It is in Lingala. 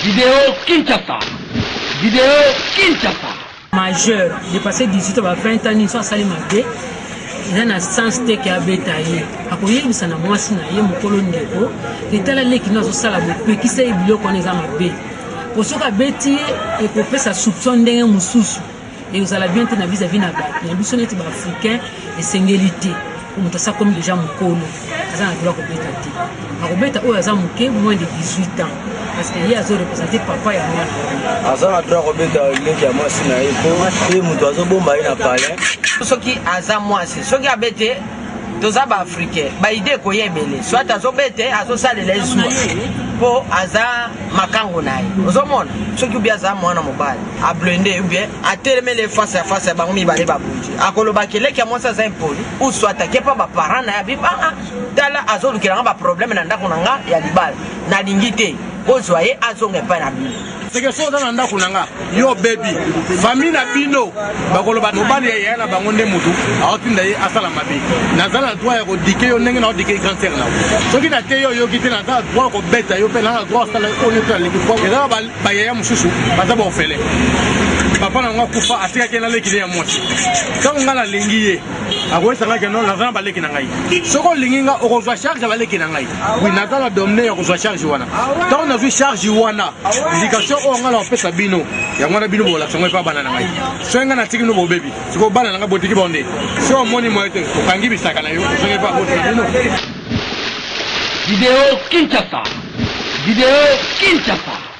Video Kinshasa Video Kinshasa majeur depasse 18 ans ba 20 ans nini so asali mabe eza na sens te ke abeta ye akoyebisa na mwasi na ye mokolo ndeko etala leki no azosala bopekisa ye biloko wana eza mabe po soki abeti ye ekopesa soupçon ndenge mosusu ekozala bien te na vis à vis na bato na biso neti baafricain esengeli te po moto asa komi deja mokolo aza na droit kobeta te akobeta oyo aza moke moins de 18 ans parce que ye azo représente papa ya mwana aza na droit kobeta leki ya mwasi na ye po ye moto azobomba ye na palin soki aza mwasi soki abete toza ba africain ba idée ekoya ebele soit azobete azosalela ye zuwa mpo aza makango na ye ozomona soki ubi aza mwana mobali ablende ubie atelemele face ya face ya bango mibale babundi akoloba keleki ya mwasi aza impoli ou soit ake mpa baparent na ye abi aa ah, ah, tala azolukela nga baproblème na ndako na nga ya libala nalingi te bozwa ye azonga epai na bino seke fo oza na ndako na nga yo obebi fami na bino bakoloba mobali ya yaya na bango nde motu aotinda ye asala mabe naza na droit ya kodike yo ndenge naodike cancer na soki na te yo oyoki te naza na droit kobeta yo mpe naza na droit asala oyo nyonso nalingi po ezala bayaya mosusu baza baofele papa na yango akufa atikaki ye naleki ne ya mwasi ntango ngai nalingi ye akoyesangaki no naza na baleki na ngai soki olingi ngai okozwa charge ya baleki na ngai oui naza na domine ya kozwa charge wana ntango nazwi charge wana éducation oyo ngai nakopesa bino yango wana bino bolakisa ngo epa bana na ngai soki ngai natiki bino bobebi sikoyo bana na ngai botiki bango nde soki omoni moye te okangi bisaka na yo ozongi epa boti na bino video kinshasa video kinshasa